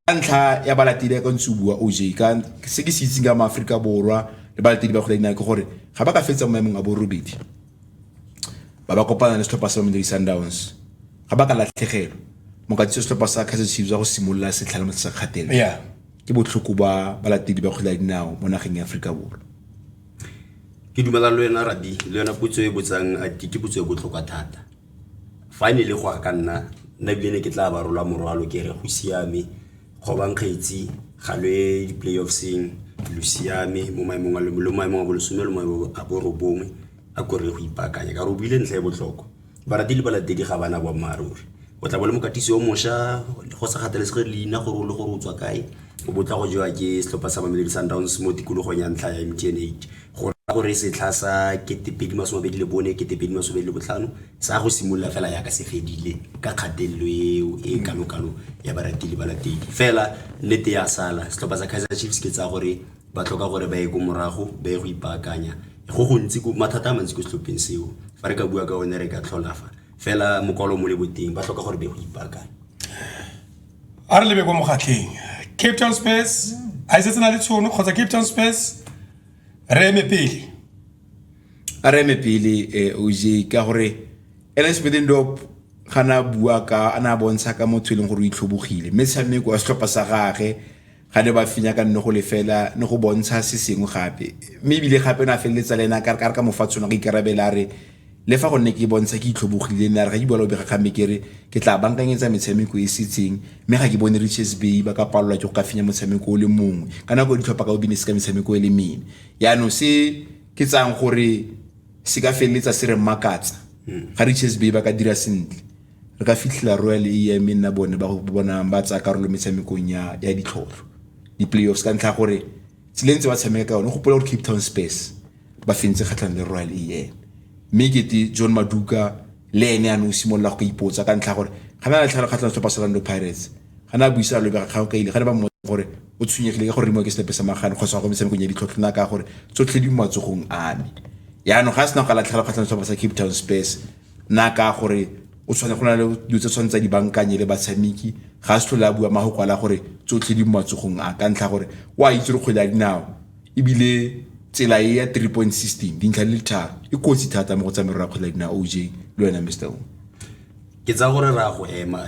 ka ntlha ya balatedi ya ka ntse o bua oj ka se ke se itseng ka maaforika borwa le balatedi ba kgwele dinao ke gore ga ba ka fetsa mo maemong a borobedi ba ba kopana le setlhopha sa Mamelodi Sundowns ga ba ka latlhegelwa mokatisi wa setlhopha sa Kaizer Chiefs wa go simolola setlhala mo sa kgatelo yeah. ke botlhoko ba balatedi ba kgwele ya dinao mo nageng ya Aforika Borwa ke dumela le wena rabi le yona putso e botsang ke putso e botlhokwa thata fa e ne le go a ka nna nna ebile ne ke tla ba rola morwalo ke re go siame Kgobang Kgetsi ga lo ye di-playoffseng lo siame mo maemong a lo lo maemong a bolesome lo maemong a borobongwe a ko re go ipaakanya ka re o buile ntlha e botlhokwa barati le balatedi ga bana boammaaruri o tla bo le mokatisi o mošwa go sa kgathalesege leina gore o le gore o tswa kae o bo tla go jewa ke setlhopha sa mamelodi sundowns mo tikologong ya ntlha ya mtn eight go raya gore setlha sa ketepedi masome abedi le bone ketepedi masome abedi le botlhano Sa go simolola fela yaka se fedile ka kgatelelo eo e kalo-kalo ya baratili ba latedi. Fela nnete ya sala, setlhopha sa Kaizer Chiefs ke tsa gore ba tlhoka gore ba ye ko morago, ba ye go ipaakanya. Go gontsi ko mathata a mantsi ko setlhopheng seo. Fa re ka bua ka one re ka tlhola fa. Fela mokwalo mo le boteng ba tlhoka gore ba ye go ipaakanya. A re lebe ko mogatlheng. Cape Town Spurs a e setse na le tshono kgotsa Cape Town Spurs re eme pele. a re eme pele um oj ka gore ernest middendorp ga ne a bua ka a ne a bontsha ka motho e leng gore o itlhobogile mme tshameko wa setlhopha sa gage ga ne ba fenya ka nne go lefela ne go bontsha se sengwe gape mme ebile gape na feleletsa le ena ka ka mofatshone go ikarabela re le fa gonne ke bontsha ke itlhobogile nna re ga ke bua le bega kgamme ke re ke tla bankanyetsa metshameko e setseng mme ga ke bone riches bay ba ka palelwa ke go ka fenya motshameko o le mongwe ka nako ditlhopha ka o bine se ka metshameko e le mene yaanong se ke tsayang gore se ka feleletsa se re makatsa hmm. ga richards bay ba ka dira sentle re ka fitlhela royal am e nna bone ba bonang ba tsaya karolo metshamekong ya ditlhotlho di-playoffs ka ntlha gore tseleng tse ba tshameka ka yone go pola gore cape town space ba fentse kgatlhang le royal am mme kete john maduka le ene a ne o simolola go ka ipotsa ka ntlha gore ga na latlhelo kgatlhang setlhopha sa lando pirates ga ne a buisa lobe ga kgang ka ile ga ne ba mmotsa gore o tshwenyegile ka go remiwa ke setepe sa magane kgotsa go metshamekong ya ditlhotlho na ka gore tsotlhe di mo matsogong a me yaanong ga a sena go ka latlhela kgatlhang setlhopha sa cape town space na ka gore o tshwane go na le dilo tse tshwanetse di bankanye le batshameki ga se tlhole a bua mago kwala gore tsotlhe di mo matsogong a ka ntlha gore o a itse re kgwele ya dinao ebile tsela e ya three point system dintlha le tharo e kotsi thata mo go tsa merero ya kgwele ya dinao oj le wena mr o ke tsa gore ra go ema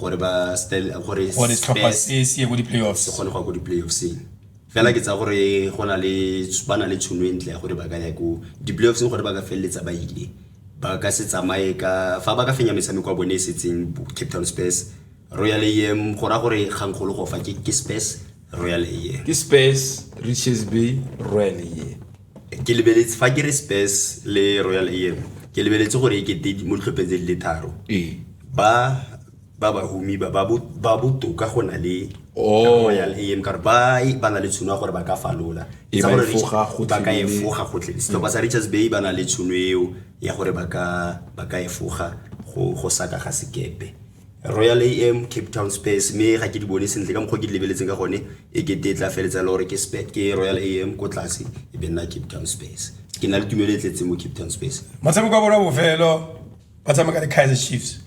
gore ba gore gore setlhopha se se ye go di-playoffs se kgone go ya ko di-playoffseng fela ke tsa gore go na le ba na le tshono e ntle ya gore ba ka ya ko di-playoffseng gore ba ka feleletsa ba ile ba ka se tsamaye ka fa ba ka fenya metshameko ya bone e setseng cape town space royal am go raya gore kgangkgolo go fa ke space royal am ke space riches bay royal am ke lebeletse fa ke re spes le royal am ke lebeletse gore e kete mo ditlhopheng tse di le tharo ee. ba ba ba humi ba ba botoka go na le oh. royal am kare ba e, ba na le tshono ya gore ba ka falola e ba ka efoga gotlhe mm. setlhopha sa richards bay ba na le tshono eo ya gore ba ka efoga go saka ga sekepe royal am cape town space mme ga ke di bone sentle ka mokgwa ke di lebeletseng ka gone e ke te tla feletsa le gore ke spec ke royal am ko tlase e be nna cape town space ke na le tumelo e tletseng mo cape town space motshameko wa bona bofelo ba tshameka le kaiser chiefs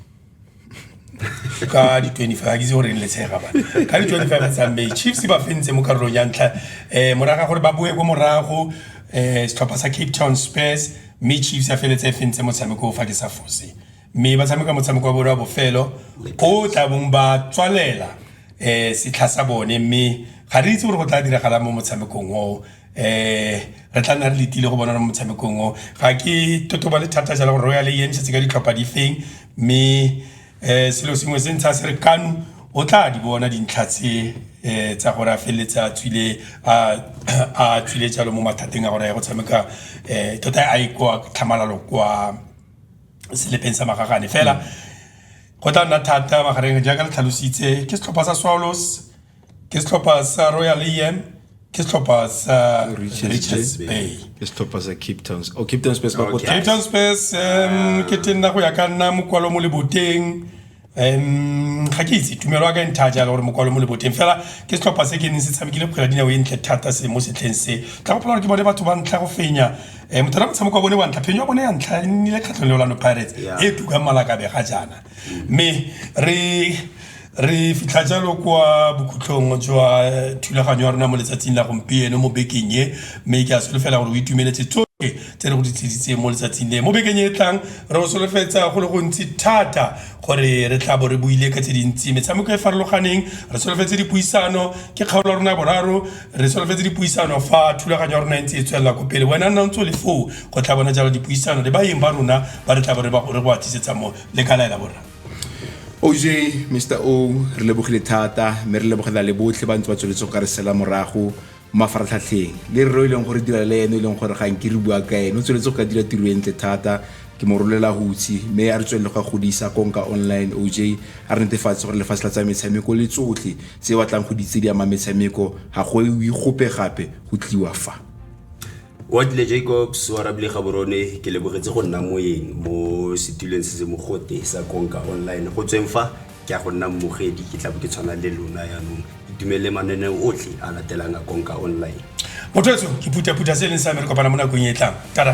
ka di-25 ga ke itse goreng letshega ba ka di-25 tsang bay chiefs ba fentse mo karolong ya ntlha um moraga gore ba boe ko morago um setlhopha sa cape town space mme chiefs ya feletse e fentse motshameko o fa ke sa fose mme ba tshameka motshameko wa bone wa bofelo o tla bong ba tswalela um setlha sa bone mme ga re itse gore go tla diragala mo motshamekong oo um re tla nna re letile go bona mo motshamekong oo ga ke totoba le thata jalo gore royal e entšhetse ka ditlhopha di feng mme um selo sengwe se ntsha se re kano o tla di bona dintlha tse um tsa gore a feleletse a tswile a tswile jalo mo mathateng a gore ya go tshameka um tota a e kwa tlhamalalo kwa selepeng sa magagane fela go tla nna thata magareng jaaka le tlhalositse ke setlhopha sa swallows ke setlhopha sa royal am ke setlhopha sa richards bay ke setlhopha sa cape town oh cape town space ba cape town space um ke tenna go ya ka nna mokwalo mo leboteng um ga ke itse tumelo ya ka e ntha jalo gore mokwalo mo leboteng fela ke setlhopha se ke neng se tshamekile kgwela dinao e ntle thata se mo setlheng se tla gopola gore ke bone batho ba ntlha go fenya um motho ra motshameko wa bone wa ntlha phenyo ya bone ya ntlha e nnile kgatlhong le olano pirates Yeah. e tukang malakabe ga jaana mme re re fitlha jalo kwa bokhutlhong jwa eh, thulaganyo ya rona mo letsatsing la gompieno mo bekeng e mme ke a solofela gore o itumeletse tsotlhe tse re go di tlisitseng mo letsatsing le mo bekeng e e tlang re go solofetsa go le gontsi thata gore re tla bo re buile ka tse dintsi metshameko e farologaneng re solofetse dipuisano ke kgaolo ya rona boraro re solofetse dipuisano fa thulaganyo ya rona e ntse e tswelela ko pele wena nna ntse o le foo go tla bona jalo dipuisano le baeng ba rona ba re tla bo re go a tlisetsa mo le ka laela borra oj mr o re lebogile thata mme re lebogela le botlhe ba ntse ba tsweletse go ka re sela morago mafaratlhatlheng le rre o e leng gore dira le ene e leng gore ga nke re bua ka ene o tsweletse go ka dira tiro e ntle thata ke mo rolela hutsi mme a re tswelele go godisa konka online oj a re netefatse gore lefatshe la tsa metshameko le tsotlhe tse batlang go ditse di ama metshameko ga go e gope gape go tliwa fa wa dile jacobs wa rabile gaborone ke lebogetse go nna moeng mo setuleng se se mogote sa konka online go tsweng fa ke a go nna mmogedi ke tlabe ke tshwana le lona yaanong itumelele mananeo otlhe a latelang a konka online motho etso ke phuthaphutha se e leng sa me re kopana mo nakong e e tlang tada